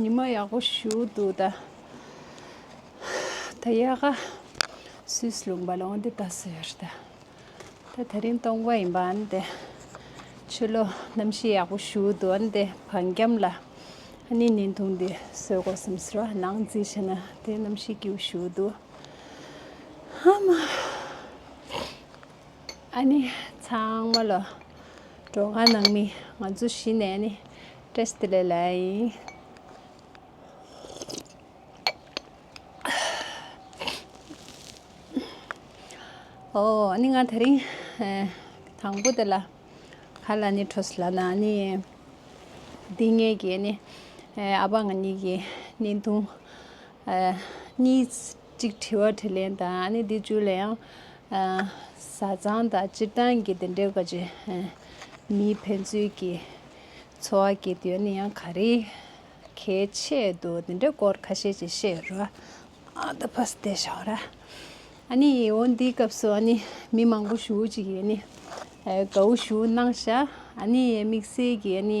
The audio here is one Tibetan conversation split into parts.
ཉི་མ་ཡག་པོ་ཞུ་འདུག་ད། ད་ཡག་ག་སུས་ལུང་པ་ལོང་འདི་ད་ཟེར་ད། ད་ད་རིང་སྟོང་པ་ཡིན་པ་འམ་དེ། ཆུ་ལོ་གནམ་གཤིས་ཡག་པོ་ཞུ་འདུག་འམ་དེ་བང་རྒྱམ་ལ། ནི་ནིན་ཐུང་འདི་སོས་གོ་སམ་ཟེར་བ་ནང་རྩིས་བྱེད་ན་དེ་གནམ་གཤིས་སྐྱིའུ་ཞུ་འདུག་ཨ་མ། ཨ་ནི་ཚང་མ་ལོ། འགྲོ་བ་ནང་མི་ང་ཚོ་གཞི་ནས་ནི་སྟྲེ་སི་ལེ་ལ་ཡིན། ཨོ་ཨོ་ནི་ང་དེ་རིང་དང་པོ་དེ་ལ་ཁ་ལ་ནི་འཕྲོ་སི་ལ་ན་ནི་འདི་ངེད་ཀྱི་ནི་ཨ་ཕ་ང་གཉིས་ཀྱི་ནི་འདུག་གཉིས། གཅིག་དྲི་བ་དྲིས་ལན་དང་ཨ་ནི་འདི་བཅུ་ལ་ཡང། བཟའ་ཚང་དང་སྤྱིར་བཏང་གི་དེ་འདྲའི་བཀའ་ཆོས། མིའི་ཕན་ཚུན་གྱི་འཚོ་བ་གྱི་དོན་ནི་ཡང་ག་རེ། གལ་ཆེ་འདུག་དེ་འདྲའི་སྐོར་ཁ་ཤས་ཀྱིས་བཤད་ཡོད་རེད། ད་ཕ་ས་དེ་ཞོག་ར། ཨ་ནི་ཡིད་འོང་འདིའི་སྐབས་སུ་ཨ་ནི་མི་མང་པོ་ཞུ་ཅིག་ཡོད་ནི། དགའ་བོ་ཞུ་གནང་ཤག་ཨ་ནི་དམིགས་བསལ་གྱི་ཨ་ནི།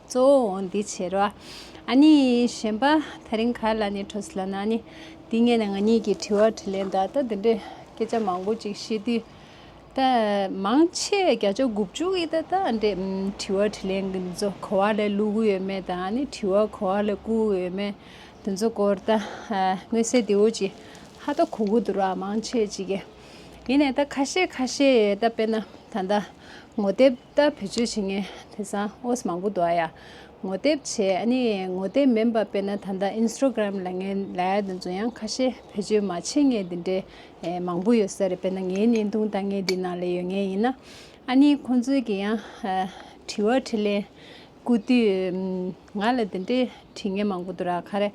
གཙོ་བོ་འོང་འདི་བྱེད་རོ། ཨ་ནི། གཞན་པ་ཐག་རིང་ག་ལ་ནི་ཁྲོ་སི་ལ་ན་ནི། འདི་ངས་ནི་ང་གཉིས་ཀྱིས་དྲི་བ་དྲིས་ལན་དང་ད་འདི་འདྲའི་སྐད་ཆ་མང་པོ་ཅིག་བཤད་དུས། ད། མང་ཆེ་བས་བརྒྱ་ཆ་དགུ་བཅུ་གིས་ད་ད་འདྲའི་དྲི་བ་དྲིས་ལན་འདི་ཚོ་གོ་བ་ལས་བླུག་གི་ཡོད་མེད་དང་ཨ་ནི་དྲི་བ་གོ་བ་ལས་བཀུག་གི་ཡོད་མེད་དེ་ཚོ་སྐོར་ད། མངོན་གསལ་དེ་འུ་ཅིག་ཧ་ད་གོ་གི་འདུག་ར་མང་ཆེ་ཅིག་གིས། ཡིན་ནས་ད་ཁ་ཤས་ཁ་ཤས་ཡས་ད་དཔེར་ན་ད་ད། ངོ་དེབ། ལྟར་བེད་སྤྱོད་བྱེད་མཁན་དེ་སང་ཨོས་མང་པོ་འདུག་ཨ་ཡ། ངོ་དེབ་བྱས་ཨ་ནི་ངོ་དེབ་མིན་པ་དཔེར་ན་ད་ལྟ Instagram ལ་ངའི་ལའེ་དང་ཛུ་ཡང་ཁ་ཤས་བེད་སྤྱོད་མ་བྱེད་ངེས་དེ་འདྲའི་མང་པོ་ཡོད་ས་རེད་དཔེར་ན་ངའི་བརྙན་ཐུང་ལྟ་ངན་འདི་ནང་ལས་ཡོད་ངེས་ཡིན་ན་ཨ་ནི་ཁོང་ཚོས་ཀྱི་ཡང་དྲི་བ་དྲི་ལན་བསྐུར་དུས་ང་ལ་དེ་འདྲའི་དྲི་ངན་མང་པོ་འདུག་ར་ཁ་རེ།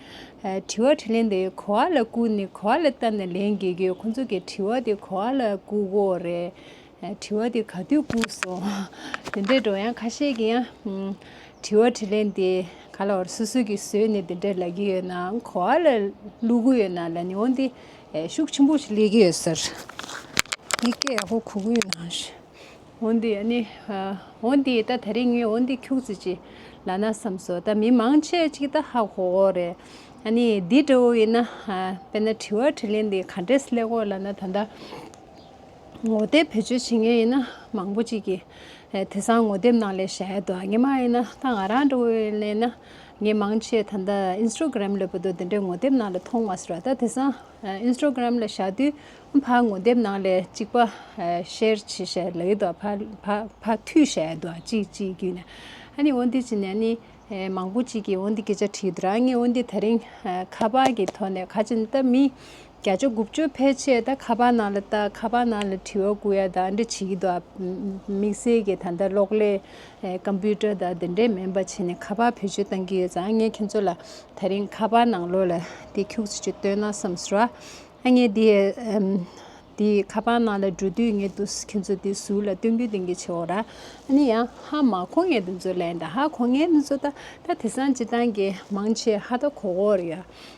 དྲི་བ་དྲི་ལན་དེ་གོ་བ་ལ་བསྐུར་ནས་གོ་བ་ལ་བལྟ་ནས་ལན་བརྒལ་རྒྱུ་ཁོང་ཚོ་གི་དྲི་བ་དེ་གོ་བ་ལ་བསྐུར་གོ་རེད། དྲི་བ་འདི་ག་དུས་བསྐུངས་སོ། དེ་འདྲའི་སྒྲོ་ཡང་ཁ་ཤས་ཀྱིས་ཡང། དྲི་བ་དྲི་ལན་འདི་ག་ལ་བར་སོ་སོ་གྱིས་བཟོས་ནས་དེ་འདྲའི་ལབ་ཀྱི་ཡོད་ན་གོ་བ་ལ་བླུག་གི་ཡོད་ན་ལ་ཉེ་བོ་འདི་ཤུགས་ཆེན་པོ་ཞིག་སླེབས་ཀྱི་ཡོད་ཟེར། འདི་སྐད་ཡག་པོ་གོ་གི་ཡོད་ན་ཞེས། འོ་འདི་ཡ་ནི། འོ་འདི་ད་ད་རིང་ངས་འོ་འདི་ཁྱུག་ཙི་ཅི་ལ་ན་བསམས་སོ་ད་མི་མང་ཆེ་གཅིག་ད་ཧ་གོ་འོ་རེད། ཡ་ནི་འདི་འདྲ་བོ་ཡིན་ན། དཔེར་ན་དྲི་བ་དྲི་ལན་འདི་ག་འདྲས་སླེབས་གོ་ལ་ན་ད་ད། ངོ་དེབ་བེད་སྤྱོད་བྱེད་མཁན་ཡིན་ན་མང་པོ་ཅིག་གིས་དེ་སང་ངོ་དེབ་ནང་ལས་གཞན་ཡོད་དོ་ངས་མ་ཡིན་ན་ད་ང་རང་འདྲ་བོས་གླེང་ན་ངས་མང་ཆེ་ད་ལྟ Instagram ལས་པོ་དོ་དེ་འདྲའི་ངོ་དེབ་ནང་ལས་མཐོང་མ་སོང་ད་དེ་སང Instagram ལ་བཞག་དུས་ཕ་ངོ་དེབ་ནང་ལས་གཅིག་པ Share བྱེད་བྱས་ལ་ཡོད་དོ་ཕ་འཐུས་བྱས་ཡོད་དོ་ཅིག་ཅིག་རྒྱུས་ནས་ཨ་ནི་འོ་འདི་ཅི་ནས་ནི་མང་པོ་ཅིག་གིས་འོ་འདི་སྐད་ཆ་དྲིས་ཡོད་དོ་རང་ངས་འོ་འདི་ད་རིང་ཁ་པར་གྱི་ཐོག་ནས་ག་ཅིག་ནི་ད་མི་བརྒྱ་ཆ་དགུ་བཅུ་ཕལ་ཆེར་ད་ཁ་པར་ནང་ལ་བལྟ་ཁ་པར་ནང་ལ་དྲི་བ་བསྐུར་ཡ་དང་འདྲ་བྱེད་ཀྱི་འདུག་དམིགས་བསལ་གྱི་ད་ལྟ་གློག་ཀླད། Computer། དང་དེ་འདྲའི་མིན་པ་བྱས་ནས་ཁ་པར་བེད་སྤྱོད་གཏང་གི་ཡོད་ཙང་ངས་ཁྱེད་ཚོ་ལ་ད་རིང་ཁ་པར་ནང་ལོག་ལ་དེ་འཁྱུག་ཚུལ་གྱི་སྟོན་ན་བསམ་ཟེར་བ། ངས་དེ་ཁ་པར་ནང་ལ་འགྲོ་དུས་ངས་དུ་ཁྱེད་ཚོ་དེ་ཟུར་ལ་སྟོན་གི་འདུག་གི་བྱེད་འོག་ར་ཨ་ནི་ཡ་ཧ་མ་གོ་ངས་དེ་ཚོ་ལན་ད་ཧ་གོ་ངས་དེ་ཚོ་ད་ད་དེ་སང་སྤྱི་སྟངས་ཀྱི་མང་ཆེ་ཧ་ད་གོ་གོ་ར་ཡ།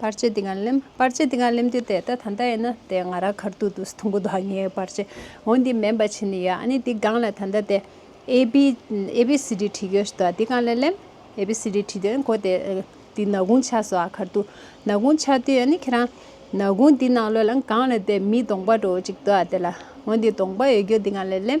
པར་ཅི་དེ་ག་ལེམ། པར་ཅི་དེ་ག་ལེམ་དུས་དེ་ད་ད་ད་ཡིན་ན་དེ་ང་ར་གར་དུ་དུས་ཐུང་གུ་དོ་ངའི་པར་ཅི་འོ་འདི་མེན་པ་ཆི་ནི་ཡ་ཨ་ནི་དེ་གང་ལ་ད་ད་དེ་ཨེ་བི་ཨེ་བི་སི་དྲི་དྲི་གོ་ཞི་དོ་དེ་གང་ལ་ལེམ། ཨེ་བི་སི་དྲི་དྲི་དོ་ཨེ་གོ་དེ་དེ་ན་གུང་ཆགས་སོ་ཨ་གར་དུ་ན་གུང་ཆགས་དུས་ཨ་ནི་ཁྱེད་རང་ན་གུང་དེ་ནང་ལོས་ལ་གང་ལ་དེ་མི་དོང་པ་འགྲོ་ཅིག་དོ་ཨ་དེ་ལ་འོ་འདི་དོང་པ་ཡོད་རྒྱུ་དེ་གང་ལ་ལེམ།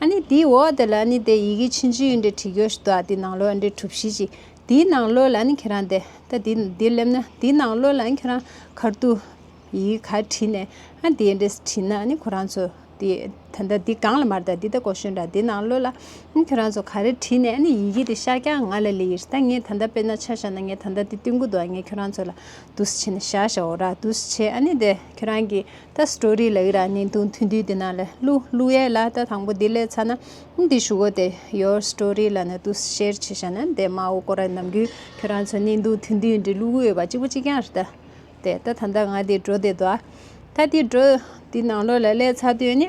ཨ་ནི་དེའི་འོག་དེ་ལ་ཨ་ནི་དེ་ཡི་གེ་ཕྱིན་ཅི་ཡོད་འདྲེ་བྲིས་ཀྱོ་ཞིག་དོ་ཨ་དེའི་ནང་ལོ་ཨ་འདྲེ་གྲུབ་ཤིས་ཀྱིས་དེའི་ནང་ལོ་ལ་ཨ་ནི་ཁྱེད་རང་དེ་ད་དེ་འདི་སླེབས་ན་དེའི་ནང་ལོ་ལ་ཨ་ནི་ཁྱེད་རང་གར་དུ་ཡི་གེ་ག་བྲིས་ནས་ཨ་དེའི་འདྲེ་བྲིས་ན་ཨ་ནི་ཁོ་རང་ཚོ་དེ་ད་ད་དེ་གང་ལ་མར་ད་དེ་ད་གོ་ཤོད་འདྲ་དེའི་ནང་ལོ་ལ་ཨ་ནི་ཁྱེད་རང་ཚོ་ག་རེ་བྲིས་ནས་ཨ་ནི་ཡི་གེ་དེ་ཤར་ཀྱང་ང་ལ་ལས་ཡིར་ད་ངས་ད་ད་དཔེར་ན་ཆ་བཞག་ན་ངས་ད་ད་དེ་སྟོན་གི་འདུག་ཨ་ངས་ཁྱེད་རང་ཚོ་ལ་དུས་བྱས་ནས་བཞག་བཞག་འོ་ར་དུས་བྱས་ཨ་ནི་དེ་ཁྱེད་རང་གི། ད་སྤྲོ་རི་ལའི་ར་ནི་དུང་ཐུང་དུས་དེ་ན་ལས་ཀླུ་ཀླུ་ཡས་ལ་ད་དང་པོ་འདི་ལས་ཚ་ན་འདི་བཞུགས་གོ་དེ་ཡོར་སྤྲོ་རི་ལ་ནི་དུ་ཤེར་ཕྱི་ཤ་ན་འདས་མ་འོ་ཀོ་ར་ནམ་རྒྱུན་ཁྱོད་རང་ཚོ་ནི་དུང་ཐུང་དུས་འདི་ཀླུ་ཀླུ་ཡོད་པ་གཅིག་པོ་གཅིག་ཀྱང་རེད་དེ་ད་ད་ད་ང་འདི་འགྲོ་དེ་འདུག་ད་འདི་འགྲོ་འདི་ནང་ལོགས་ལ་ལས་ཚ་དུས་ནི།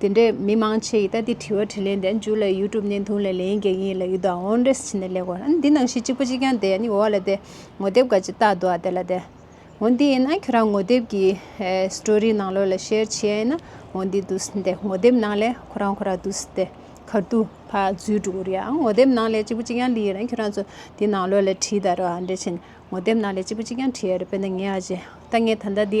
དེ་འདྲའི་མི་མང་ཆེ་ཡིས་ད་ལྟའི་དྲི་བ་དྲིས་ལན་དེ་མཇུག་ལ YouTube བརྙན་ཐུང་ལས་ལན་རྒྱག་ཡིན་ལ་ཡུལ་དུའང་འོར་འདྲེས་བྱེད་ནས་ལེགས་བར་ཨ་ནི་འདི་ནང་བཞིན་གཅིག་པ་གཅིག་རྐྱང་དེ་ཨ་ནི་འོ་ལ་དེ་ངོ་དེབ་འགའ་ཅིག་བལྟ་འདུག་ཨ་དེ་ལ་དེ། འོ་འདི་ཡིན་ན་ཁྱོད་རང་ངོ་དེབ་ཀྱི Story ནང་ལོགས་ལ Share བྱེད་ཡ་ཡིན་ན་འོ་འདི་འདུག་ཟིན་ཏེ་ངོ་དེབ་ནང་ལས་ཁོ་རང་ཁོ་རང་འདུག་ཟིན་ཏེ་གར་དུ་ཕ་ཛུལ་འགྲོ་གི་རེད་ཨང་ངོ་དེབ་ནང་ལས་གཅིག་པ་གཅིག་རྐྱང་ལི་ཡ་རེད་ཁྱོད་རང་ཚོ་འདི་ནང་ལོགས་ལ་བྲིས་ད་རོགས་ཨ་འདྲེས་བྱེད་ནས་ངོ་དེབ་ནང་ལས་གཅིག་པ་གཅིག་རྐྱང་བྲིས་ཡ་རེད་དཔེར་ན་ངའི་ཨ་ཅེ་ད་ངས་ད་ལྟ་འདི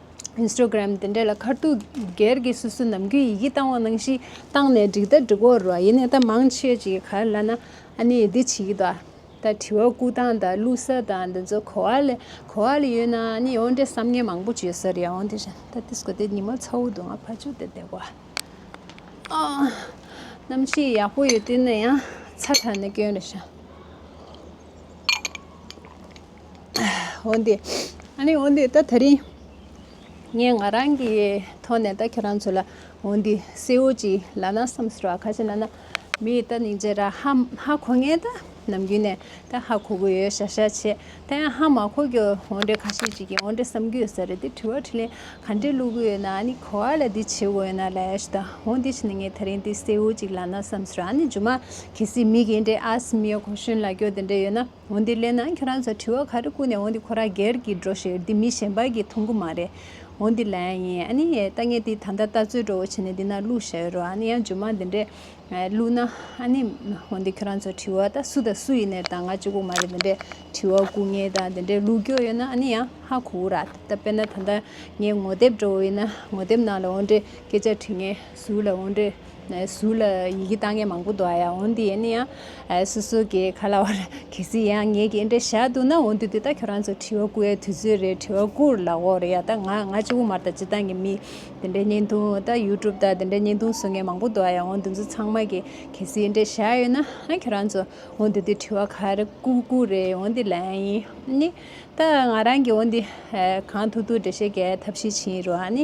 Instagram། དེ་འདྲས་ལ་ཁར་ཐུག་སྒེར་གྱི་སུད་སུ་ནམ་རྒྱུན་ཡི་གེ་བཏང་བ་ནང་བཞིན་བཏང་ནས་འགྲིག་ད་འགྲིག་འོར་རོ་ཡིན་ནའི་ད་མང་ཆེ་བྱས་ཀྱི་གར་ལ་ན་ཨ་ནི་འདི་བྱེད་ཀྱི་འདུག་ད་དྲི་བ་བཀུག་སྟངས་དང་བླུག་ས་དང་འདི་ཚོ་གོ་བ་ལས་གོ་བ་ལས་ཡོད་ན་ཨ་ནི་ཨོ་འདྲས་བསམ་ངན་མང་པོ་བྱོས་ཟེར་ཡང་ཨོ་འདི་བཞིན་ད་ཏིས་གོ་ཏིས་ཉི་མ་ཚ་བོ་འདུག་ང་ཕར་བྱོས་ཏེ་བསྡད་གོ། གནམ་གཤིས་ཡག་པོ་ཡོད་དུས་ན་ཡང་ཚ་དྲགས་ནས་སྐྱོན་རེ་བྱུང། འོན་ཏེ། ཨ་ནི་འོན་ཏེ་ད་ད་རིང། ངས་ང་རང་གི་ཐོག་ནས་ད་ཁྱོད་རང་ཚོ་ལ་འོན་ཏེ་སེའུ་ཅི་ལ་ན་བསམ་ཟེར་བ་ཁ་ཅི་ན་ན། མི་ད་ནི་རྗེས་ར་ཧ་ཧ་གོ་ངེས་ད་ནམ་རྒྱུན་ནས་ད་ཧ་གོ་གི་ཡོད་ཤ་ཤ་བྱས་ད་ཡང་ཧ་མ་གོ་གི་འོན་ཏེ་ཁ་ཤས་ཅིག་གིས་འོན་ཏེ་བསམ་གི་ཡོད་ས་རེད་དེ་དྲི་བ་དྲི་ལན་ག་འདྲས་བླུག་གི་ཡོད་ན་ཨ་ནི་གོ་ཨ་ལ་འདི་བྱེད་དགོས་ཡོད་ན་ལ་ཡ་ཤི་ད་འོན་ཏེ་ཕྱི་ན་ངས་ད་རིང་དེ་སེའུ་ཅིག་ལ་ན་བསམ་ཟེར་བ་ཨ་ནི་རྗུ་མ་གལ་སྲིད་མི་གེ་འདྲས་ཨ་སི་མི་ཡ་གོ་གཞོན་ལ་གྱོ་དེ་འདྲས་ཡོད་ན། འོན་ཏེ་ལེན་ན་ཁྱོད་རང་ཚོ་དྲི་བ་ག་རེ་བསྐུར་ནས་འོན་ཏེ་ཁོ་རང་སྒེར་གྱི་འགྲོ་ཞེས་འདི་མི་གཞན་པར་གྱིས་ཐུག་གི་མ་རེད། འོན་ཏེ་ལན། ཡིན་ཨ་ནི། ལྟ་ངན་དེ་ད་ལྟ་ལྟ་ཚོད་དྲོ་བོ་བྱས་ནས་འདི་ན་བླུགས་བཞག་ཡོད་རོགས་ཨ་ནི་ཡང་ཇོ་མང་འདི་འདྲས། བླུགས་ན། ཨ་ནི། འོན་ཏེ་ཁྱོད་རང་ཚོ་དྲི་བ་ད་སུ་དང་སུ་ཡིན་ནས་ད་ང་ཅི་གོ་མ་རེད་འདི་འདྲས་དྲི་བ་བསྐུར་ངེས་དང་འདི་འདྲས་ལུགས་འགྱོགས་ཡོད་ན་ཨ་ནི་ཡང་ཧ་གོ་གོ་ར་ད་ལྟ་དཔེར་ན་ད་ལྟ་ངས་ངོ་དེབ་དྲོ་བོ་ཡིན་ན་ངོ་དེབ་ནང་ལ་འོན་ཏེ་སྐད་ཆ་དྲི་ངེས། གཟུགས་ལ་འོན་ཏེ། གཟུགས་ལ་ཡི་གེ་ལྟ་ངན་མང་པོ་འདུག་ཡང་འོན་ཏེ་ཡིན་ན་ཡང། སོ་སོ་གས་ག་ལ་བར་གལ་སྲིད་ཡང་ངས་ཀྱི་འདྲེ་བཞག་འདུག་ན་འོན་ཏེ་འདི་ལྟ་ཁྱོད་རང་ཚོ་དྲི་བ་ཀུ་ཡའི་དུས་ཚོད་རེད་དྲི་བ་ཀུར་ལ་འོ་རེད་ཡ་ད་ང་ང་ཅི་དབུ་མར་ད་ཅི་ལྟ་ངས་མི་འདི་འདྲའི་བརྙན་ཐུང་ད་ཡུ་ཀྲུབ་ད་འདི་འདྲའི་བརྙན་ཐུང་བཟོ་ངན་མང་པོ་འདུག་ཡང་འོན་ཏེ་འཛུ་ཚང་མ་གས་གལ་སྲིད་འདྲེ་བཞག་ཡོད་ན་ཁྱོད་རང་ཚོ་འོན་ཏེ་འདི་དྲི་བ་ག་རེ་ཀུ་ཀུ་རེད་འོན་ཏེ་ལན་ཡིན་ནི། ད་ང་རང་གིས་འོན་ཏེ་གང་ཐུག་ཐུག་འདྲེ་བཞེད་གས་ཐབས་ཤེས་བྱིན་རུང་ནི།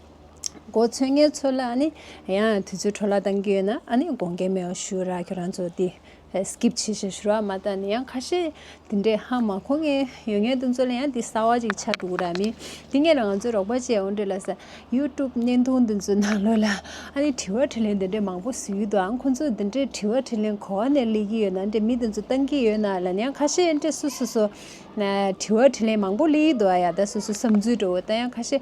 གོ་ཚོད་ངས་ཚོད་ལ་ནི་ཡང་དུས་ཚོད་འཕྲོ་བརླག་བཏང་གི་ཡོད་ན་ཨ་ནི་དགོངས་འགལ་མེད་པ་ཞུ་ར་ཁྱོད་རང་ཚོ་དེ Skip བྱེད་བཞིན་ཞུ་ར་མ་ལྟ་ནི་ཡང་ཁ་ཤས་དེ་འདྲས་ཧ་མ་གོ་ངས་ཡོད་ངའི་ཏུ་ཚོད་ལ་ཡང་དེ་གསར་བ་ཅིག་ཆགས་འདུག་ར་མི་དེ་ངས་ལ་ང་ཚོའི་རོགས་པ་བཅས་ཨོ་འདྲེ་ལ་ས YouTube བརྙན་ཐུང་དེ་ཚོའི་ནང་ལོས་ལ་ཨ་ནི་དྲི་བ་དྲི་ལན་དེ་འདྲས་མང་པོ་ཟུར་ཡུལ་དུའང་ཁོ་ཚོས་དེ་འདྲས་དྲི་བ་དྲི་ལན་གོ་བ་ནས་ལས་ཀྱི་ཡོད་ན་འདྲས་མི་དེ་ཚོ་བཏང་གི་ཡོད་ན་ལ་ནི་ཡང་ཁ་ཤས་འདྲས་སུ་སུ་སུ་དྲི་བ་དྲི་ལན་མང་པོ་ལས་ཡུལ་དུ་ཨ་ཡ་ད་སུ་སུ་བསམ་ཚུལ་འདྲ་བོ་ད་ཡང་ཁ་ཤས་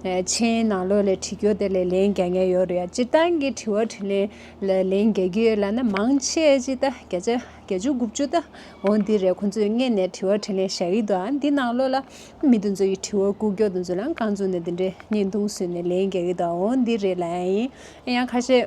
ཕྱིའི་ནང་ལོགས་ལས་དྲི་རྒྱུ་དེ་ལས་ལན་བརྒྱ་ཉེར་ཡོད་རེད་སྤྱིར་བཏང་གི་དྲི་བ་དྲི་ལན་ལ་ལན་བརྒྱ་རྒྱུ་ཡོད་ལ་ན་མང་ཆེ་གཅིག་ད་བརྒྱ་ཆ་བརྒྱ་བཅུ་དགུ་བཅུ་ད་འོང་འདི་རེད་ཁོང་ཚོས་མངལ་ནས་དྲི་བ་དྲི་ལན་བྱ་ཡི་འདུག་ཨ་འདི་ནང་ལོགས་ལ་མི་དེ་ཚོ་ཡི་དྲི་བ་ཀུ་ཀྱོག་དེ་ཚོ་ལ་རྐང་བཙུགས་ནས་འདི་འདྲའི་བརྙན་ཐུང་བཟོས་ནས་ལན་བརྒྱ་ཡི་ད་འོང་འདི་རེད་ལ་ཨ་ཡིན་ཡང་ཁ་ཤས།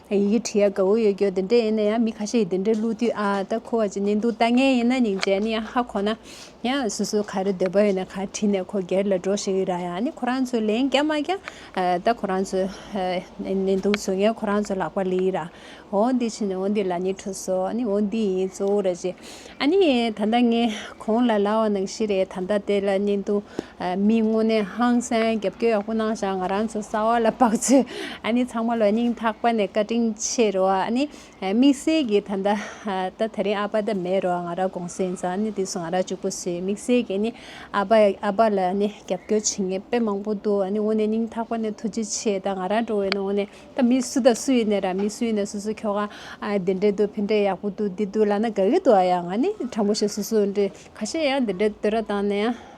ཡི་གེ་བྲི་ཡ་དགའ་བོ་ཡོད་སྐྱོ་དེ་འདྲ་ཡིན་ན་ཡང་མི་ཁ་ཤས་ཀྱིས་དེ་འདྲ་བླུག་དུས་ཨ་ད་ཁོ་བ་ཅི་ནས་འདུག་ལྟ་ངན་ཡིན་ན་ནིང་བྱས་ནི་ཡང་ཧ་གོ་ན་ཡང་སུ་སུ་ག་རེ་འདོད་པ་ཡོད་ན་ག་བྲིས་ནས་ཁོ་སྒེར་ལ་འགྲོ་ཞིག་ར་ཡང་ནི་ཁོ་རང་ཚོས་ལན་རྒྱག་མ་རྒྱག་ད་ཁོ་རང་ཚོས་ནས་འདུག་བཟོད་ངན་ཁོ་རང་ཚོ་ལག་པ་ལིའི་ར་འོ་འདི་ཕྱིན་ནས་འོ་འདི་ལ་ནི་ཁྲོ་སོ་ཨ་ནི་འོ་འདི་ཡིན་གཙོ་བོ་ར་ཅེས་ཨ་ནི་ད་ལྟ་ངས་ཁོང་ལ་ལ་བ་ནང་བཞིན་རེད་ད་ལྟ་དེ་ལ་ནི་འདུག། མིའི་དངོས་གནས་ཧང་སངས་རྒྱབ་སྐྱོ་ཡག་པོ་གནང་བཞག་ང་རང་ཚོ་གསར་བ་ལ་བབ་ཚོས་ཨ་ནི་ཚང་མ་ལ་སྙིང་ཐག་པ་ནས་བཀའ་དྲིན་ཆེ་རོ་ཨ་ནི་དམིགས་བསལ་གྱི་ད་ལྟ་ད་ད་རིང་ཨ་ཕ་ད་མེད་རོ་ང་རང་དགོང་ཟས་འཛག་ཨ་ནི་དུས་སུ་ང་རང་ཅུག་པོ་ཟོས་དམིགས་བསལ་གྱི་ཨ་ནི་ཨ་ཕ་ཨ་ཕ་ལ་ཨ་ནི་རྒྱབ་སྐྱོ་བྱེད་ངེས་དཔེ་མང་པོ་འདུག་ཨ་ནི་དངོས་གནས་སྙིང་ཐག་པ་ནས་ཐུགས་རྗེ་ཆེ་ད་ང་རང་འགྲོ་བའི་ནི་དངོས་གནས་ད་མི་སུ་ད་སུ་ཡིན་ནས་ར་མི་སུ་ཡིན་ནས་སུ་སུ་ཁྱོ་ག་འདི་འདྲས་འདུག་ཕན་འབྲས་ཡག་པོ་འདུག་འདི་འདུག་ལ་ན་དགའ་གི་འདུག་ཨ་ཡ་ང་ནི་དྲང་པོ་བཤད་སུ་སུ་འདྲས་ཁ་ཤས་ཡང་འདི་འདྲས་འདོད་ར་བཏང་ནས་ཡང།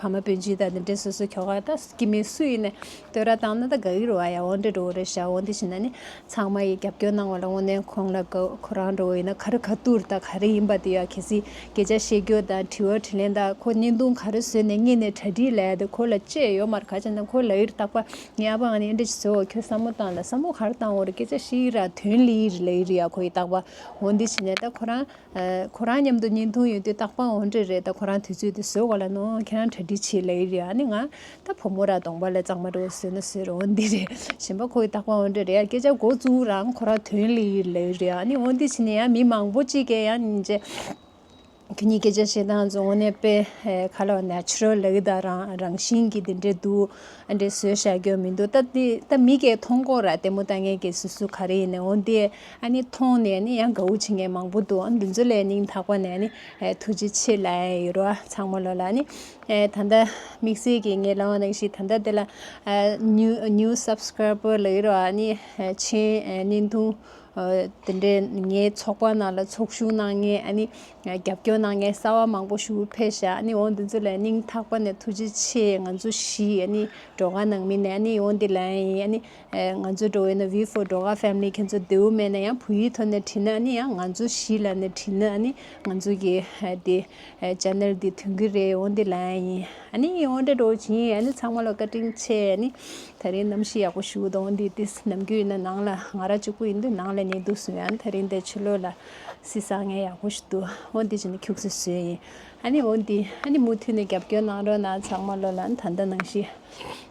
ཕ་མ་བུ་འཇིག་ད་ནི་འདྲེ་སོ་སོའི་ཁྱོ་ག་ད་ཀྱི་མི་སུ་ཡིན་ནས་བསྟོད་ར་བཏང་ན་ད་ག་གི་རུ་བ་ཡ་འོ་འདྲེ་འགྲོ་བོ་རེད་ཤག་འོ་འདི་བྱིན་ན་ནི་ཚང་མ་ཡི་རྒྱབ་སྐྱོར་གནང་བ་ལ་འོ་ནས་ཁོང་ལ་གོ་ཁོ་རང་འགྲོ་བོ་ཡིན་ན་ག་རུ་ག་ཏུར་ད་ག་རེ་ཡིན་པ་དེ་ཡ་གི་སི་གེ་ཅག་བཤད་རྒྱུ་ད་དྲི་བ་དྲི་ལན་ད་ཁོ་བརྙན་ཐུང་ག་རུ་བཟོས་ནས་རྙེད་ནས་གྲ་སྒྲིག་ལས་ད་ཁོ་ལ་བཅས་ཡོ་མར་ག་ཅན་ད་ཁོ་ལ་ཡིར་བཏགས་པ་ངའི་ཨ་ཕ་ཨ་ནེ་འདྲེ་བྱེད་བོ་ཁྱོད་ས་མོ་བཏང་ད་ས་མོ་ག་རུ་བཏང་བོ་རེད་སྐེ་ཅག་ཤི་ཡི་ར་དོན་ལི་ཡི་རི་ལ་ཡིར་ཡ་ཁོ་ཡི་བཏགས་པ་འོ་འདི་བྱིན་ནས་ད་ཁོ་རང། ཁོ་རང་མཉམ་དུ་གཉིས་འཐུང་ཡོད་དུས་རྟག་པར་འོང་འདྲི་རེད་ད་ཁོ་རང་དུས་ཚོད་དེ་བཟོས་གོ་ལ་ནོ་ཁྱེད་རང་གྲ་སྒྲིག་བྱེད་ལེ་རེད་ཨ་ནི་ང་ད་བུ་མོ་ར་གདོང་པ་ལ་གཙང་མ་འགྲོ་བཟོས་ན་བཟོས་རོགས་འདི་རེད་བཞིན་པ་ཁོ་ཡི་རྟག་པར་འོང་འདྲི་རེད་ཡ་སྐད་ཆ་འགོ་བཙུགས་རང་ཁོ་རང་དོན་ལེ་ཡི་ལེ་རེད་ཨ་ནི་འོང་འདི་བྱས་ནས་ཡ་མི་མང་པོ་གཅིག་གེ་ཡ་ཉིན་རྗེ་ཁྱེད་གཉིས་སྐད་ཆ་བཤད་སྟངས་ཚོ་དངོས་གནས་དཔེ་ཁ་ལོ Natural ལེ་གི་ད་རང་རང་བཞིན་གྱི་འདི་འདྲེ་འདུག་ཨ་འདྲེ་བཟོས་བཞག་རྒྱུ་མི་འདུག་ད་མི་གེ་མཐོང་སྐོར་ར་ལྟད་མོ་ལྟ་ངན་གེ་སུ་སུ་ག་རེ་ཡིན་ནས་འོང་འདི། ཨ་ནི་མཐོང་ནས་ནི་ཡང་དགའ་བོ་བྱེད་མཁན་མང་པོ་འདུག་འདི་ཚོ་ལས་སྙིང་ཐག་པ་ནས་ནི་ཐུགས་རྗེ་ཆེ་ལ་ཡི་རོ་ཚང་མ་ལོ་ལ་ནི་ད་ལྟ་དམིགས་བསལ་གྱི་ངའི་ལའོ་ནང་ཞིག་ད་ལྟ་དེ་ལ new subscriber ལ་ཡི་རོ་ཨ་ནི་མཆན་བསྣན་ཐུང་དེ་འདྲས་ངའི་ཚོགས་པ་ནང་ལ་ཚོགས་ཞུགས་གནང་མཁན་ཨ་ནི་རྒྱབ་སྐྱོར་གནང་མཁན་གསར་བ་མང་པོ་ཞུགས་ཕེབས་ཤག་ཨ་ནི་འོ་འདི་ཚོ་ལས་སྙིང་ཐག་པ་ནས་ཐུགས་རྗེ་ཆེ་ང་ཚོ་བཞི་ཨ་ནི་གྲོགས་ཁ་ནང་མི་ནས་ཨ་ནི་འོ་འདི་ལ་ཡིན་ཨ་ནི་ང་ཚོའི་འགྲོ་བའི་ནི་བྷི་ཧྥོ་འགྲོ་ག་ཕེམ་ལི་ཁྱེད་ཚོ་རྡེའུ་མེད་ན་ཡང་བུ་ཡིག་ཐོག་ནས་བྲིས་ན་ནི་ཡང་ང་ཚོ་གཞིས་ལ་ནས་བྲིས་ན་ནི་ང་ཚོ་གི་དེ Channel དེ་དོན་གི་རེད་འོན་ཏེ་ལན་ཡིན་ཨ་ནི་ཡིན་འོན་ཏེ་འགྲོ་གྱིན་ཨ་ནི་ཚང་མ་ལ་བཀའ་དྲིན་ཆེ་ཨ་ནི་ད་རིང་གནམ་གཤིས་ཡག་པོ་བཞུགས་འདུག་འོན་ཏེ་དེས་ནམ་རྒྱུན་ཡིན་ན་ནང་ལ་ང་ར་གཅིག་པོ་ཡིན་དུས་ནང་ལ་ཉལ་འདུག་སུ་ཡང་ད་རིང་འདས་ཆུ་ལོག་ལ་སི་སང་ངས་ཡག་པོ་ཞུ་འདུག་འོན་ཏེ་ཅི་ནི་ཁྱུག་ཚོད་སུའི་ཡིན་ཨ་ནི་འོན་ཏེ་ཨ་ནི་མུ་མཐུད་ནས་རྒྱབ་སྐྱོར་གནང་རོགས་གནང་ཚང་མ་བློ་ལ་ད་ལྟ་ནང་གཞིས།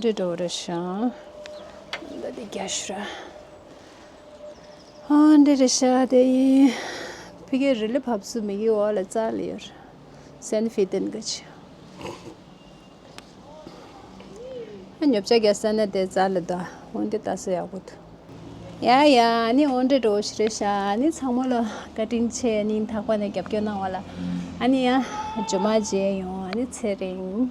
འདི་འགྲོ་རུ་ཤང་འདི་འདི་རྒྱ་ཤུ་ར་ཨ་འདི་རི་ཤ་དེ་ཡིན་ཕི་གེ་རི་ལི་ཕབ་སུ་མི་གི་བ་ལ་ཙ་ལི་ཡོར་སན་ཕི་ཏན་གི་ཆི་ཉོབ་ཅ་ག་ས་ན་དེ་ཙ་ལི་ད་འོན་དེ་ད་སུ་ཡག་པོ་ཐུ་ཡ་ཡ་ནི་འོ་འདྲེ་འགྲོ་ཞི་རེ་ཤ་ནི་ཚང་མོ་ལ་བཀའ་དྲིན་ཆེ་ནི་འཐག་པ་ནས་རྒྱབ་སྐྱོར་གནང་བ་ལ་ཨ་ནི་ཡ་ཇོ་མ་བརྗེ་ཡོང་ཨ་ནི་ཚེ་རིང།